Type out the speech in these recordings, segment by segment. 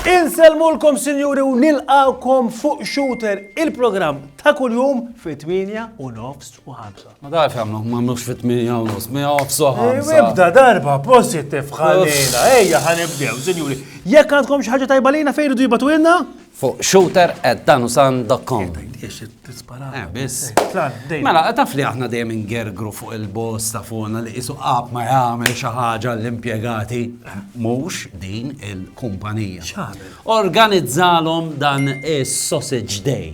Inselmulkom sinjuri u nilqawkom fuq Shooter, il-programm ta' kuljum fit-8 u nofs u 5. Ma darf jamlu, ma mux fit minja u nus, minja u fsoħa. Ibda darba positif ħalina, ejja ħanibdew, sinjuri. Jekk għandkom xaħġa tajba lina fejn idu jibatu jenna? Fuq shooter at danusan.com. Eh, biss. Eh, mela, taf li aħna dejjem ingergru fuq il-boss ta' fuqna li isu qab ma jagħmel xi ħaġa l-impjegati mhux din il-kumpanija. Organizzalhom dan is-sausage day.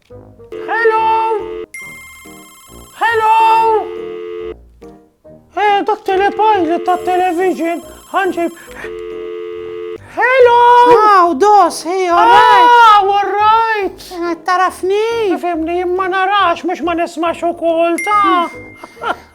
Hello! Hello! Eh, dak telepajlet ta' television, ħanġib. Hello! Wow, dos, hey, all right. Ah, all right! Eh, tarafni? Fimni, ma narax, mux ma nismax u kol ta'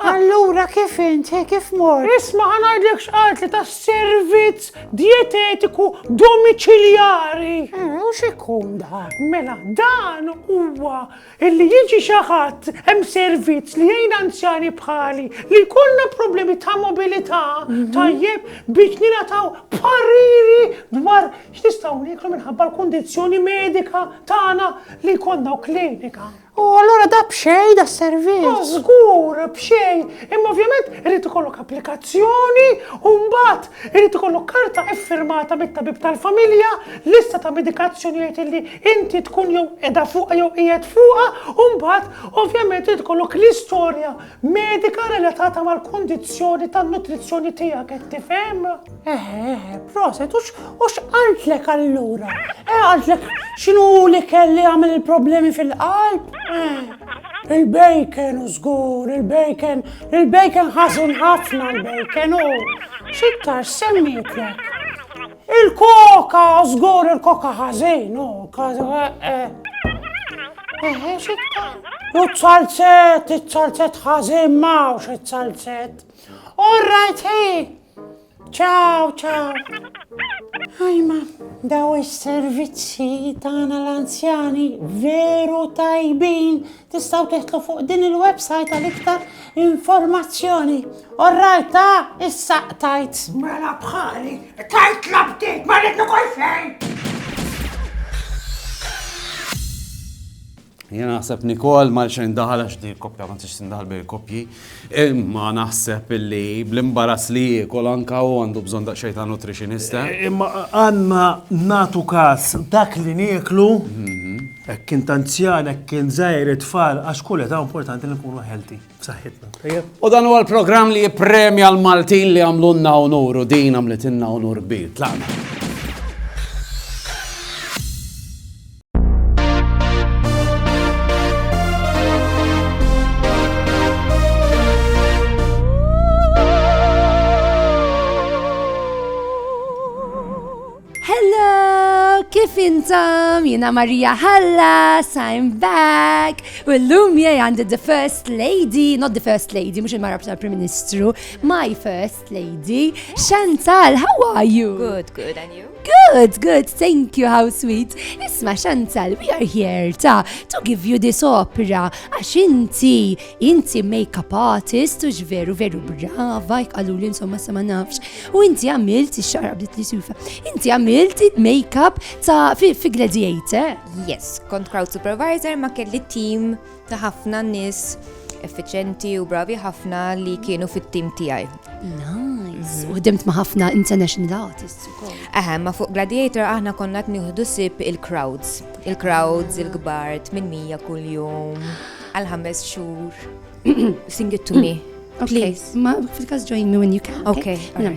Allura kif int, kif mor? Isma ħanajdlek xqalt li ta' servizz dietetiku domiċiljari. Eh, u x'ikun dan? Mela, dan huwa illi jiġi xi ħadd hemm servizz li jgħin anzjani bħali li jkollna problemi ta' mobilità mhm. tajjeb biex nilataw pariri dwar x'nistgħu nieklu minħabba l-kundizzjoni medika tagħna li jkollna klinika. U allura da b'xejn da servizz? Ma żgur b'xejn, imma ovvjament irid ikollok applikazzjoni u mbagħad irid ikollok karta iffirmata mit-tabib tal-familja, lista ta' medikazzjonijiet illi inti tkun jew qiegħda fuqha jew qiegħed fuqha u mbagħad ovvjament irid ikollok l-istorja Medika relatata mal-kondizzjoni tan-nutrizzjoni tiegħek qed tifhem? Eħe, eħe, proset, u x'qaltlek allura? Eh, qaltlek x'inhu li kelli għamel il-problemi fil-qalb? Eh, il-bacon u żgur, il-bacon, il-bacon ħażin ħafna l-bacon u xittar semmitlek. Il-koka, żgur il-koka ħażin, u U t-salzet, it-salzet ħażin mawx it-salzet. All right, hey! Ciao, ciao! Ajma, daw is-servizzi tagħna l-anzjani veru tajbin Tistgħu teħtlu fuq din il-website għal iktar informazzjoni. Orrajt ta' issa tajt. Mela bħali, tajt labtit, ma rridnu kol fejn. Jena naħseb Nikol ma xejn daħal għax di kopja ma tix tindaħal bil kopji. Imma naħseb illi bl-imbarass li jiekol anke hu għandu bżonn daqsxejn ta' nutritionista. Imma għandna nagħtu każ dak li nieklu, hekk kien ta' anzjan, hekk kien żgħir, it-tfal, għax kull età importanti li nkunu healthy, b'saħħitna. Tajjeb? U dan huwa l-programm li jippremja l-Maltin li għamlulna unur u din għamlitilna unur kbir. Tlaqna. Kif intom? Jina Maria Hallas, I'm back. U l-lum jgħi għandi the first lady, not the first lady, mux il-marab tal-Prim Ministru, my first lady. Chantal, how are you? Good, good, and you? Good, good, thank you, how sweet. Isma Chantal, we are here ta to give you this opera. Għax inti, inti makeup artist, ux veru, veru brava, jkalu li insomma sa ma nafx. U inti għamilt, xarab bdiet li sufa, inti għamilt makeup ta' fi gladiator. Yes, kont crowd supervisor ma kelli team ta' ħafna nies effiċenti u bravi ħafna li kienu fit-tim tiegħi. Nice. Mhm. U ħdimt ma' ħafna international artists ukoll. Eħe, ma' fuq Gladiator aħna konna qed nieħdu sib il-crowds. Il-crowds, il-kbar, 800 kuljum, għal ħames xhur. Sing it to me. Please. Ma fil-każ join me when you can. Okay. Mela,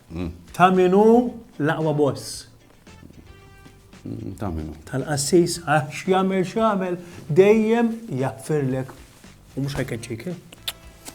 Ta' min hu l-aqwa boss? Ta' min hu? Tal-qassis għax jagħmel x'jagħmel dejjem jaffirlek u mhux ħajkeċċik.